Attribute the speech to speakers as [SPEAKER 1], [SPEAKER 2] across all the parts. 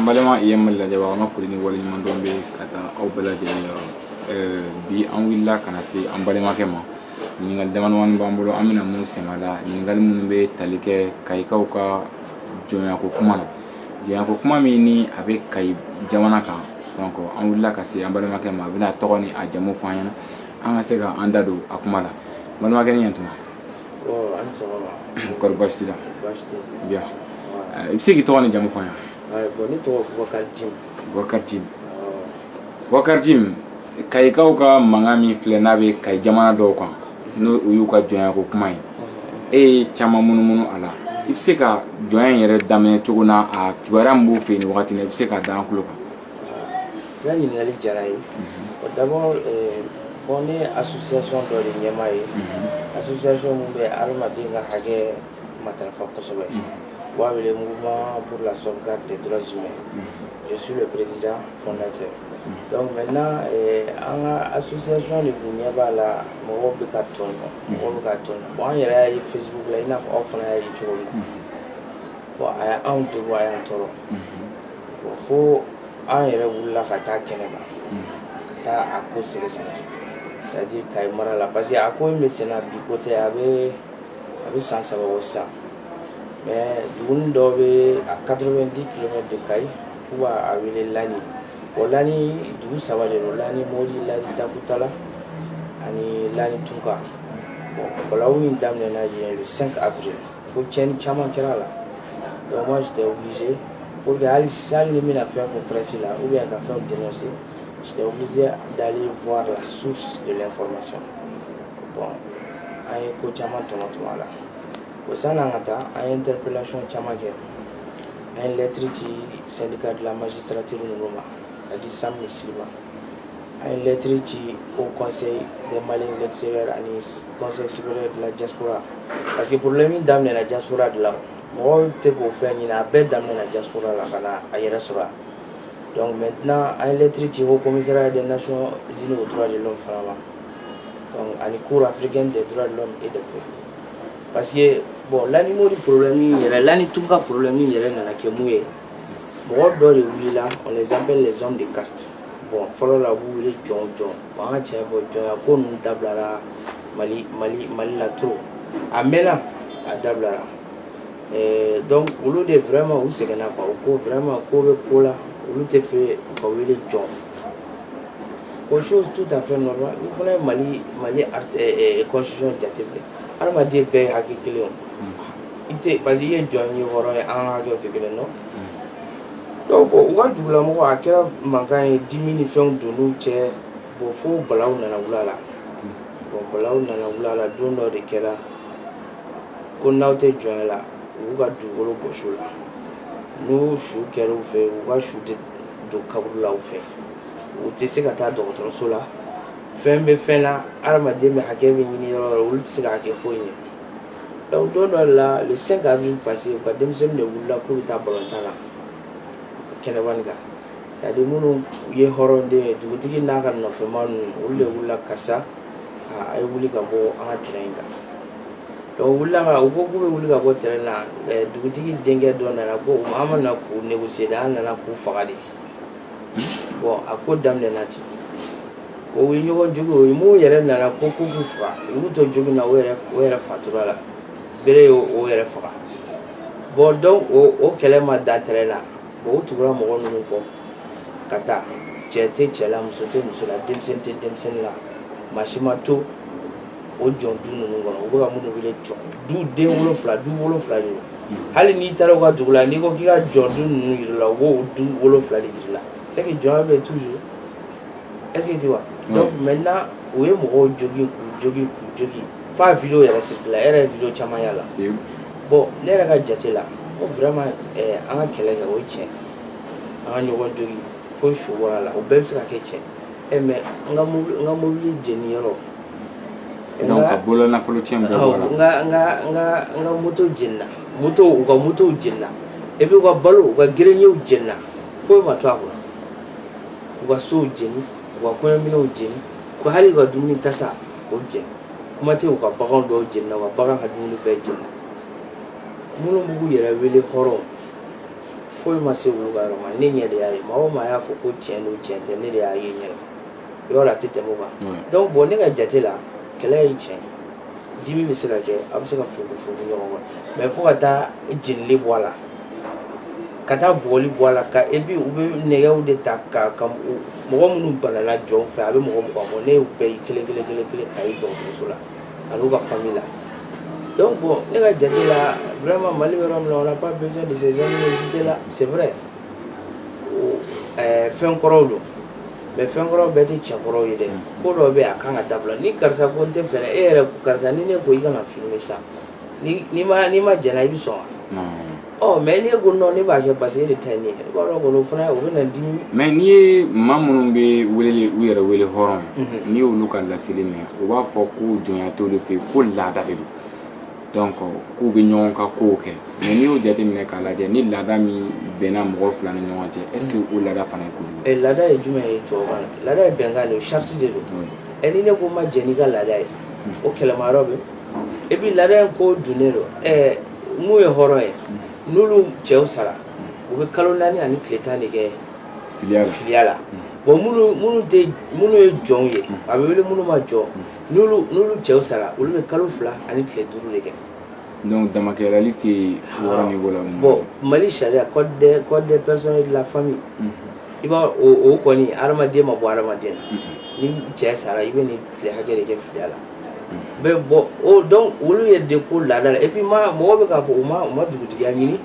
[SPEAKER 1] an balima jɛmɛ lajɛbagaw an ka foli ni waleɲuman dɔn bɛ ka taa aw bɛɛ lajɛlen yɔrɔ eh, bi an wulila ka na se an balimakɛ ma ɲininkali damadamani b'an bolo an bɛna mun sɛmɛ a la ɲininkali minnu bɛ tali kɛ kayikaw ka jɔnyako kuma na jɔnyako kuma min ni a bɛ kayi jamana kan donc an wulila ka se an balimakɛ ma a bɛna tɔgɔ ni a jamu fɔ an ɲɛna an ka se ka an da don a kuma la balimakɛ ni ɲɛtuma
[SPEAKER 2] kɔri baasi t'i
[SPEAKER 1] la i bɛ se k'i tɔgɔ ni jamu f'an ɲɛna ne tɔgɔ
[SPEAKER 2] bubakari
[SPEAKER 1] jim bubakari jim bubakari jim kayikaw ka mankan min filɛ n'a bɛ kayi jamana dɔw kan n'o o y'u ka jɔnya ko kuma ye e ye caman munumunu a la i bɛ se ka jɔnya in yɛrɛ daminɛ cogo na a kibaruya min b'o fɛ yen nin wagati la i bɛ se k'a da an tulo kan N ka
[SPEAKER 2] ɲininkali diyara ye o dabɔ bɔn ne asuson dɔ de ɲɛmaa ye asuson minnu bɛ adamaden ka hakɛ matarafa kosɛbɛ b'a wele mugulaurla sɔrɔka de dsi ma ye su bɛ peressid fɔlɔlantɛ mɛ n an ka asuson de tun ɲɛ b'a la mɔgɔw bɛ ka tɔn mɔgɔw bɛ ka tɔn bɔn an yɛrɛ ye fisi bila i n'a fɔ aw fana y' ye cogo min bɔn a y' anw tɛ bɔ a y' tɔɔrɔ fo an yɛrɛ wulila ka taa kɛnɛ kan ka taa a ko sɛgɛsɛgɛ c'est-à-dire kayi mara la parce que a ko in bɛ senna bi ko tɛ a bɛ a bɛ san saba bɔ sisan mais dugu dɔ bɛ à 90 kilomètres de kayi k'u b'a wele lani o lani dugu saba de don lani modi lani takutala ani lani tunka bon balawu in daminɛna yen le 5 avril Fo cɛnɲɛn caman kɛra la dɔnku tɛ wuli o de hali sali ni bɛna fɛn fɔ pɛsi la u ka fɛn dɛmɛ se tɛ wuli dalen fɔ la su gɛlɛn fɔ ma sɔn bɔn an ye ko caman tɔnɔ tuma la o san n'an ka taa an ye n tɛplacon caman kɛ an ye lɛtiri ci sanni ka dilan masi sarati ninnu ma ka di san misi ma A ye lɛttiriri ci o kɔnse de mali lɛtise ani kɔnsesi la jakurara parce que bolo min da minɛɛna jakurara dilan mɔgɔ tɛ k'o fɛn ɲini a bɛɛ da minɛɛna jakurara la ka na a yɛrɛ sɔrɔ yan mɛ tɛna an yelɛttiriri ci o kɔmira de na sɔn z oura de fara la ani ko afiri de e de parce que bɔn laani mori porola min yɛrɛ la ni tun ka porola min yɛrɛ nana kɛ mun ye mɔgɔ dɔw de wulila on les appelle les hommes de caste bon fɔlɔ la u b'u wele jɔn jɔn bon an ka tiɲɛ fɔ jɔnya ko ninnu dabilara mali mali mali la trop a mɛnna a dabilara Eh, donc olu de vraiment u sɛgɛnna quoi u ko vraiment ko bi ko la olu t'a fɛ u ka wele jɔn o chose tout à fait normal u fana ye mali mali art- eh, eh, constitution jateminɛ hadamaden bɛɛ ye hakɛ kelen ye o. i tɛ parce que i ye jɔn ye hɔrɔn ye an ka jɔ tɛ kelen dɔn donc u ka dugulamɔgɔ a kɛra mankan ye dimi ni fɛnw donn'u cɛ bon fo balawu nana wuli a la bon balawu nana wuli a la don dɔ de kɛra ko n'aw tɛ jɔn la u y'u ka dugukolo bɔsi u la n'u su kɛra u fɛ u ka su tɛ don kaburu la u fɛ u tɛ se ka taa dɔgɔtɔrɔso la fɛn bɛ fɛn na hadamaden bɛ hakɛ min ɲini yɔrɔ yɔrɔ olu tɛ se k'a kɛ foyi ye Don dɔ dɔ la le cinq avril passé u ka denmisɛnnin de wulila k'u bɛ taa balɔntan na kɛnɛba in kan ka di minnu ye hɔrɔn de ye dugutigi n'a ka nɔfɛma ninnu olu de wulila karisa a ye wuli ka bɔ an ka terrain kan donc wulila u ko k'u bɛ wuli ka bɔ terrain na dugutigi denkɛ dɔ nana ko an ma na k'u négocier an nana k'u faga de bon a ko daminɛna ten u ye ɲɔgɔn jogin min yɛrɛ nana ko ko k'u faga u y'u to jugu na o yɛrɛ o yɛrɛ fatura a la bere ye o yɛrɛ faga bon donc o o kɛlɛ ma dan terrain la bon u tugura mɔgɔ ninnu kɔ ka taa cɛ tɛ cɛ la muso tɛ muso la denmisɛnnin tɛ denmisɛnnin la maa si ma to o jɔn du ninnu kɔnɔ u bɛ ka minnu wele jɔn du de wolonfila du wolonfila de don hali n'i taara u ka dugu la n'i ko k'i ka jɔn du ninnu yir'i la u b'o du wolonfila de yir'i la c'est que jɔnya bɛ toujours est-ce que tu vois donc maintenant u ye mɔgɔw jogin k'u jogin k'u jogin f'a video yɛrɛ circula e yɛrɛ ye video caman y'a la bon ne yɛrɛ ka jate la ko vraiment eh, an ka kɛlɛ kɛ o ye tiɲɛ an ka ɲɔgɔn jogin fo su bɔra a la o bɛɛ bɛ se ka kɛ tiɲɛ eh, mais an ka mobili jeni yɔrɔ
[SPEAKER 1] ka bolo nafolo tiɲɛ
[SPEAKER 2] an ka moto jenina u ka motow jenina et puis u ka balo u ka grenierw jenina foyi ma to a kɔnɔ u ka sow jeni u ka kɔɲɔminɛnw jeni ko hali u ka dumuni tasa o jeni kuma tɛ u ka bagan dɔw jenina wa bagan ka dumuni bɛɛ jeni minnu b'u yɛrɛ wele hɔrɔn foyi ma se olu ka yɔrɔ ma ne ɲɛ de y'a ye maa o maa y'a fɔ ko tiɲɛ don tiɲɛ tɛ ne de y'a ye ɲɛ yɔrɔ la a tɛ tɛmɛ o kan Ouais. donc bon ne ka jate la kɛlɛ ye tiɲɛ ye dimi bɛ se ka kɛ a bɛ se ka furuku furuku ɲɔgɔn kɔrɔ mais fo ka taa jenili bɔ a la ka taa bugɔli bɔ a la ka et puis u bɛ nɛgɛw de ta ka ka u- mɔgɔ minnu banana jɔnw fɛ a bɛ mɔgɔ mugan bɔ ne y'u bɛɛ ye kelen kelen kelen kelen ka ye dɔgɔtɔrɔso la ani u ka famille la donc bon ne ka jate la vraiment Mali bɛ yɔrɔ min na on n'a pas besoin de ces animosités là c'est vrai ɛɛ fɛn kɔrɔw don mais fɛn kɔrɔw bɛɛ tɛ tiɲɛ kɔrɔw ye dɛ ko dɔ bɛ yen a kan ka dabila ni karisa ko n t'a fɛ e yɛrɛ karisa ni ne ko i kana filmer sa n'i ma n'i ma jɛna i bɛ sɔn wa ɔ mais n'e ko non ne b'a kɛ parce que e de ta ye ne ye i b'a dɔn kɔni o fana o bɛ na dimi mais n'i
[SPEAKER 1] ye maa minnu bɛ weleli u yɛrɛ wele hɔrɔn n'i y'olu ka laseli mɛn u b'a fɔ ko jɔnya t'olu fɛ yen ko laada de don donc k'u bɛ ɲɔgɔn ka kow kɛ mais n'i y'o jateminɛ k'a lajɛ ni laada min bɛnna mɔgɔ fila ni ɲɔgɔn cɛ est ce que o laada fana ye kojugu eh, laada ye jumɛn ye tubabukan
[SPEAKER 2] na laada ye bɛnkan de ye sariti de don ɛ ni ne ko n ma jɛn n'i ka laada ye o kɛlɛma yɔrɔ bɛ et puis laada in ko dunnen don ɛ min ye hɔrɔn ye n'olu cɛw sara u bɛ kalo naani ani tile tan de kɛ filiya la bon minnu tɛ minnu ye jɔnw ye a bɛ wele minnu ma jɔ n'olu n'olu cɛw sara olu bɛ kalo fila ani tile duuru de kɛ donc
[SPEAKER 1] damakɛɲɛni tɛ yen yɔrɔ niveau la mun bon
[SPEAKER 2] mali sariya code des code des personnes et de la famille i b'a o o kɔni hadamaden ma bɔ hadamaden na ni cɛ sara i bɛ nin tile hakɛ de kɛ filiya la mais bon donc olu ye de ko laada la et puis ma mɔgɔ bɛ k'a fɔ u ma u ma dugutigiya ɲini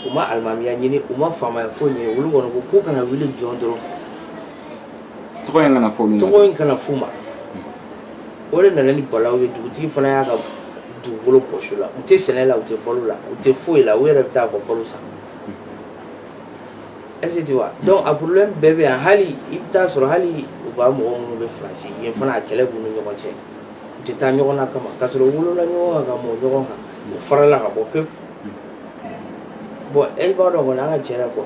[SPEAKER 2] u ma alimamiya ɲini u ma faamaya foyi ɲini olu kɔni ko k'u kana wele jɔn dɔrɔn
[SPEAKER 1] tɔgɔ in kana fɔ olu tɔgɔ in kana f'u
[SPEAKER 2] ma o de nana ni balaw ye dugutigi fana y'a ka dugukolo bɔsi u la u tɛ sɛnɛ la u tɛ balo la u tɛ foyi la u yɛrɛ bɛ taa bɔ balo san est ce que tu vois donc a problème bɛɛ bɛ yan hali i bɛ taa sɔrɔ hali u ka mɔgɔ minnu bɛ faransi yen fana a kɛlɛ b'u ni ɲɔgɔn cɛ u tɛ taa ɲɔgɔn na kama k'a sɔrɔ u wolola ɲɔgɔn kan ka mɔ ɲɔgɔn kan u farala ka bɔ pewu bon e b'a dɔn kɔni an ka tiɲɛ fɔ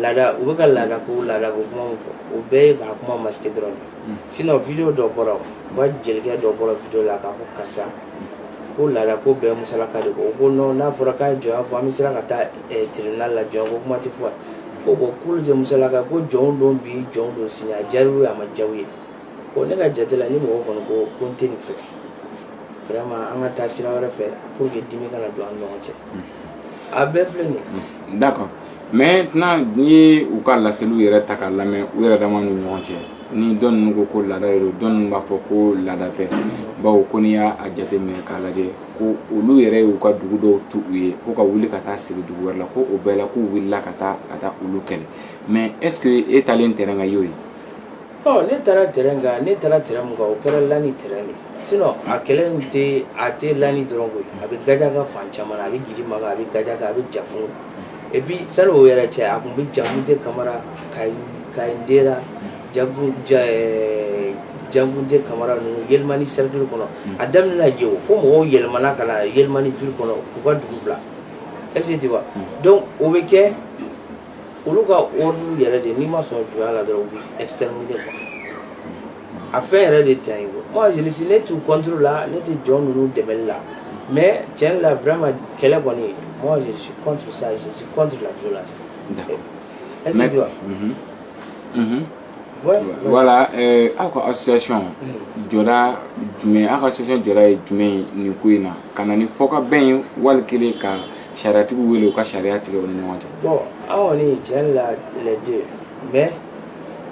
[SPEAKER 2] laada u bɛ ka laada ko laada ko kuma min fɔ o bɛɛ ye k'a kuma masquer dɔrɔn de sinon video dɔ bɔra o u ka jelikɛ dɔ bɔra video la k'a fɔ karisa ko laada ko bɛɛ musalaka de ko o ko non n'a fɔra k'a ye jɔnya fɔ an bɛ siran ka taa eh, tribunal la jɔnya ko kuma tɛ fɔ yan ko bon k'olu tɛ musalaka ko jɔnw don bi jɔnw don sini a diyar'u ye a ma diya u ye bon ne ka jate la ni mɔgɔ kɔni ko ko n tɛ nin fɛ vraiment an ka taa sira wɛrɛ fɛ pour que dimi kana don an ni ɲɔgɔn cɛ a bɛɛ filɛ nin ye d'accord
[SPEAKER 1] maintenant n'i ye u ka laseliw yɛrɛ ta k'a lamɛn u yɛrɛ dama ni ɲɔgɔn cɛ ni dɔ ninnu ko ko laada de don dɔ ninnu b'a fɔ ko laada tɛ bawo ko n'i y'a jateminɛ k'a lajɛ ko olu yɛrɛ y'u ka dugu dɔw tu u ye ko ka wuli ka taa sigi dugu wɛrɛ la ko o bɛɛ la k'u wulila ka taa ka taa olu kɛlɛ mais est ce que e taalen terrain kan y'o ye Ɔ
[SPEAKER 2] ne taara terrain kan ne taara terrain min kan o kɛra Lani terrain de ye sinon a kɛlɛ in tɛ a tɛ Lani dɔrɔn koyi a bɛ Gajaka fan caman na a bɛ Gidimaka a bɛ Gajaka a bɛ Jafun et puis sani o yɛrɛ cɛ a tun bɛ Jankunte Kamara Kayi Kayindera Jaku ja ɛɛ Jankunte Kamara ninnu Yelimani cercle kɔnɔ a daminɛna yen o fo mɔgɔw yɛlɛmana ka na Yelimani ville kɔnɔ k'u ka dugu bila est ce que tu vois donc o bɛ kɛ olu ka ordre yɛrɛ de n'i ma sɔn jɔnya la dɔrɔn u bɛ exterminer quoi a fɛn yɛrɛ de tɛ yen moi je suis ne t'u contre la ne tɛ jɔn ninnu dɛmɛli la mais tiɲɛ la vraiment kɛlɛ kɔni moi je suis contre ça je suis contre la violence. d'accord est ce que tu vois. Mhm.
[SPEAKER 1] Mhm. voilà eh, aw ka association jɔda jumɛn aw ka association jɔda ye jumɛn ye nin ko in na ka na ni fɔkabɛn ye wali kelen ka Sariyatigiw wele u ka sariya tigɛ u ni ɲɔgɔn cɛ. Bon aw
[SPEAKER 2] kɔni tiɲɛ yɛrɛ la les deux mais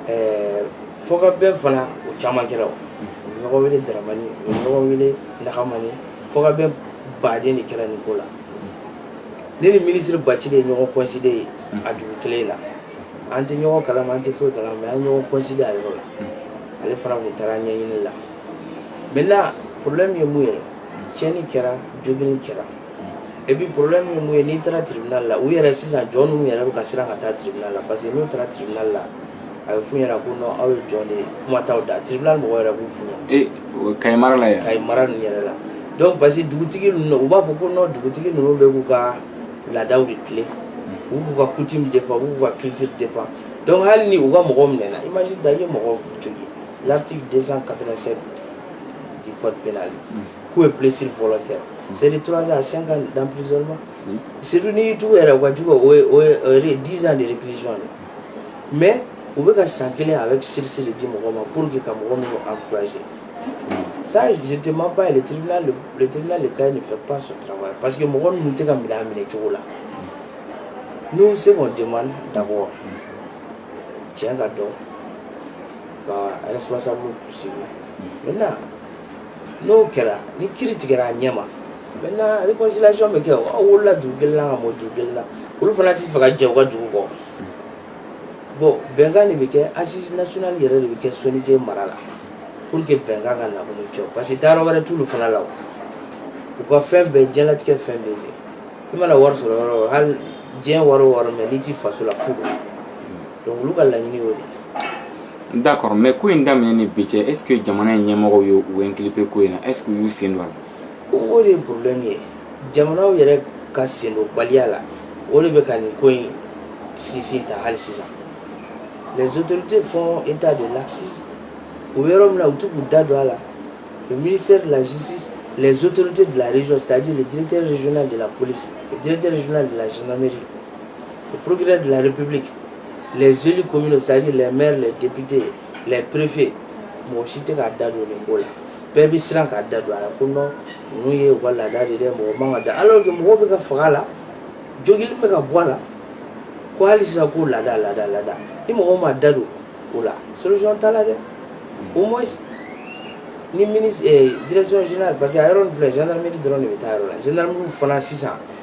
[SPEAKER 2] ɛɛ fɔkabɛn fana o caman kɛra o. U bɛ ɲɔgɔn wele Daramani, u bɛ ɲɔgɔn wele Nahamani, fɔkabɛn baden de kɛra nin ko la. Ne ni ministre Bacili ye ɲɔgɔn coïncider yen a dugu kelen na. An tɛ ɲɔgɔn kalama, an tɛ foyi kalama mais an ye ɲɔgɔn coïncider a yɔrɔ la. Ale fana tun taara ɲɛɲini la. Maintenant problème ye mun ye tiɲɛni kɛra, joginni kɛra. et puis problème ye mun ye n'i taara tribunal la u yɛrɛ sisan jɔn ninnu yɛrɛ bɛ ka siran ka taa tribunal la parce que n'u taara tribunal la a bɛ f'u ɲɛna ko non aw ye jɔn de ye kuma t'aw da tribunal mɔgɔw yɛrɛ b'o f'u ɲɛna. ee Kayi mara la yan. Kayi
[SPEAKER 1] mara ninnu yɛrɛ la
[SPEAKER 2] donc parce que dugutigi ninnu u b'a fɔ ko non dugutigi ninnu bɛ k'u ka laadaw de tilen u b'u ka coutume défend u b'u ka culture défend donc hali ni u ka mɔgɔw minɛna imagine-toi i ye mɔgɔ jogin l'article 287 du code pénal. Mm. coups et blessures volontaires mm. c'est de 3 ans à 5 ans d'emprisonnement surtout n'i y'i tugu yɛrɛ u ka jugu o ye o ye 10 ans de réclusion dɛ mais u bɛ ka san kelen avec sursis de di mɔgɔ ma pour que ka mɔgɔ ninnu encourager mm. ça je te mens pas le tribunal le tribunal de Kayes ne fait pas son travail parce que mɔgɔ ninnu tɛ ka minɛ a minɛ cogo la mm. nous ce qu'on demande d'abord tiɲɛ ka dɔn ka responsable poursuivre maintenant n'o kɛra ni kiri tigɛra a ɲɛma maintenant réconciliation bɛ kɛ aw wolola dugu kelen na ka mɔ dugu kelen na olu fana t'a fɛ ka jɛ u ka dugu kɔ bon bɛnkan de bɛ kɛ assise nationale yɛrɛ de bɛ kɛ soninkɛ mara la pour que bɛnkan ka na ɲɔgɔn cɛ parce que taayɔrɔ wɛrɛ t'olu fana la o u ka fɛn bɛɛ diɲɛlatigɛ fɛn bɛɛ bɛ i mana wari sɔrɔ yɔrɔ o yɔrɔ hali diɲɛ wari o wari mais n'i t'i faso la fu don donc olu ka laɲini y'o de
[SPEAKER 1] ye D'accord, mais ko in daminɛ ni bi cɛ, est-ce que jamana in ɲɛmɔgɔw ye u inculper ko in na? Est-ce que u y'u sen don a la? O de ye
[SPEAKER 2] problème ye. Jamanaw yɛrɛ ka sen don baliya la, o de bɛ ka nin ko in sinsin ta hali sisan. Les autorités font état de laxisme. O yɔrɔ min na, u tun k'u da don a la. Le ministère de la Justice, les autorités de la région, c'est-à-dire le directeur régional de la police, le directeur régional de la gendarmerie, Le procureur de la République, les élus communaux, c'est-à-dire les maires, les députés, les préfets, mɔgɔ si t'a da don nin ko la. bɛɛ bɛ siran ka da don a la ko non ninnu ye u ka laada de dɛ mɔgɔ man ka da alors que mɔgɔw bɛ ka faga a la joli bɛ ka bɔ a la ko hali sisan ko laada laada laada ni mɔgɔw ma da don o la solution t'a la dɛ au moins ni ministre eh, direction générale parce que a yɔrɔ nin filɛ gendarmerie dɔrɔn de bɛ taa yɔrɔ la gendarmerie fana sisan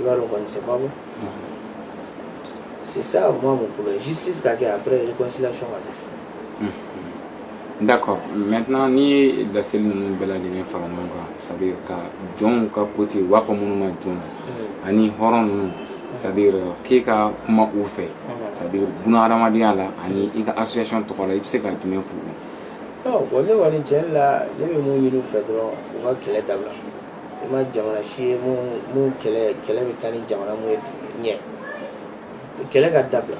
[SPEAKER 2] i b'a dɔn quoi c'est pas bon c'est ça moi mon problème justice ka kɛ après réconciliation ka kɛ
[SPEAKER 1] mm-hmm. d'accord maintenant n'i ye laseli ninnu bɛɛ lajɛlen fara ɲɔgɔn kan c'est à dire ka jɔnw ka côté u b'a fɔ minnu ma jɔn mm. ani hɔrɔn ninnu c'est à dire k'e ka kuma u fɛ mm. c'est à dire buna hadamadenya la ani i ka association tɔgɔ la i bɛ se ka jumɛn f'u ye bon
[SPEAKER 2] ne kɔni tiɲɛ la ne bɛ mun ɲini u fɛ dɔrɔn u ka kɛlɛ dabila i ma jamana si ye minnu kɛlɛ kɛlɛ bɛ taa ni jamana minnu ye ɲɛ kɛlɛ ka dabila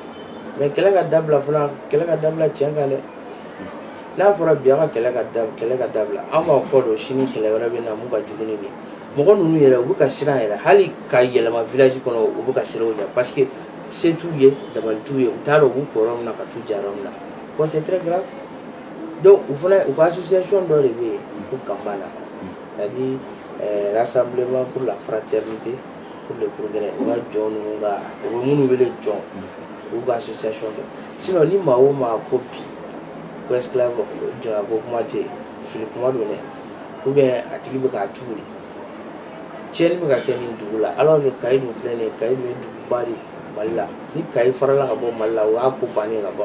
[SPEAKER 2] mais kɛlɛ ka dabila fana kɛlɛ ka dabila tiɲɛ kan dɛ n'a fɔra bi an ka kɛlɛ ka da kɛlɛ ka dabila an b'a kɔ don sini kɛlɛ wɛrɛ bɛ na mun ka jugu ni nin mɔgɔ ninnu yɛrɛ u bɛ ka siran yɛrɛ hali ka yɛlɛma village kɔnɔ u bɛ ka siran u ɲɛ parce que se t'u ye dabali t'u ye u t'a dɔn u b'u ko yɔrɔ min na ka t'u ja yɔrɔ min na bon c'est très grave donc u fana u ka association dɔ de bɛ yen ko Gambana ka di sanbilenbakuru la fara cɛ tɛ de ko gɛlɛn u ka jɔn ninnu ka u minnu wele jɔn u ka su sa sɔn si ni maa o maa ko bi ko jɔn ko kuma tɛ yen fili kuma don dɛ u bɛ a tigi bɛ k'a tugu de cɛnɲɛn bɛ ka kɛ nin dugu la ala ni ka dun filɛ nin ka ye duguba de mali la ni ka farala ka bɔ mali la o y'a ko bannen ka bɔ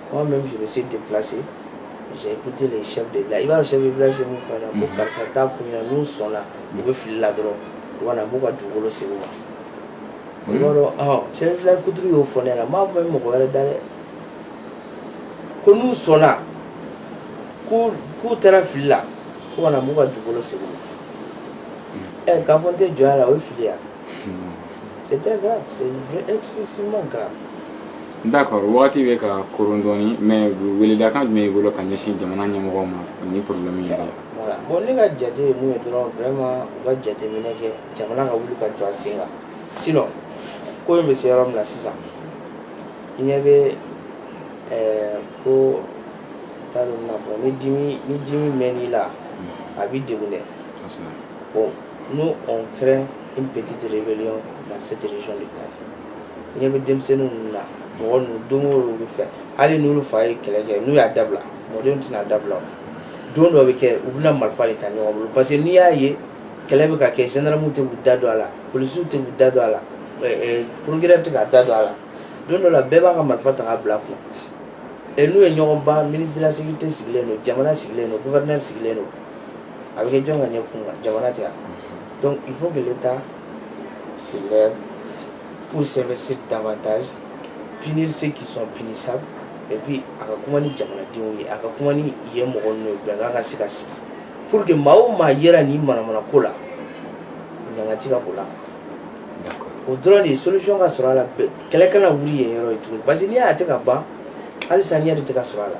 [SPEAKER 2] Moi même je me suis déplacé j'ai écouté les chefs de village i b'a dɔn chef de village min fana ko karisa taa f'u ɲɛna n'u sɔnna u bɛ fili la dɔrɔn u ka na b'u ka dugukolo segin u ma i b'a dɔn chef de village kuturu y'o fɔ ne ɲɛna n m'a fɔ mɔgɔ wɛrɛ da dɛ ko n'u sɔnna ko k'u taara fili la k'u ka na b'u ka dugukolo segin u ma ɛ k'a fɔ n tɛ jɔnya la o ye fili ye wa c'est très grave c'est excessivement grave d'accord
[SPEAKER 1] wagati bɛ ka koron dɔɔni mais weledakan jumɛn b'i bolo ka ɲɛsin jamana ɲɛmɔgɔw ma ni problème yɛrɛ ye voilà bon ne ka jate
[SPEAKER 2] ye mun ye dɔrɔn vraiment u ka jateminɛ kɛ jamana ka wuli ka jɔ a sen kan sinon ko in bɛ se yɔrɔ min na sisan i ɲɛ bɛ ɛɛ ko n t'a dɔn n bɛna fɔ ni dimi ni dimi mɛnn'i la a b'i degun dɛ bon Nous on craint une petite rébellion dans cette région de Kayi ɲɛ bɛ denmisɛnnin ninnu na mɔgɔ ninnu don bɛ fɛ hali n'u fa ye kɛlɛ kɛ n'u y'a dabila mɔden tɛna dabila don dɔ bɛ kɛ u bɛna marifa de ta ɲɔgɔn bolo parce que n'i y'a ye kɛlɛ bɛ ka kɛ zandaramuw tɛ da don a la polisiw tɛ da don a la préfet tɛ ka da don a la don dɔ la bɛɛ b'a ka marifa ta bila kun ɛ n'u ye ɲɔgɔn ban ministre de la sécurité sigilen don jamana sigilen don gouverneur sigilen don a bɛ kɛ jɔn ka ɲɛ kun kan jamana tɛ yan donc il faut que l'État se lève pour s'investir davantage punir ceux qui sont punissables et puis a ka kuma ni jamanadenw ye a ka kuma ni yen mɔgɔ ninnu ye bɛnkan ka se ka sigi pour que maa o maa yera nin manamana ko la ɲangati ka b'o la o dɔrɔn de ye solution ka sɔrɔ a la kɛlɛ kana wuli yen yɔrɔ ye tuguni parce que n'i y'a ye a tɛ ka ban halisa ɲɛ de tɛ ka sɔrɔ a la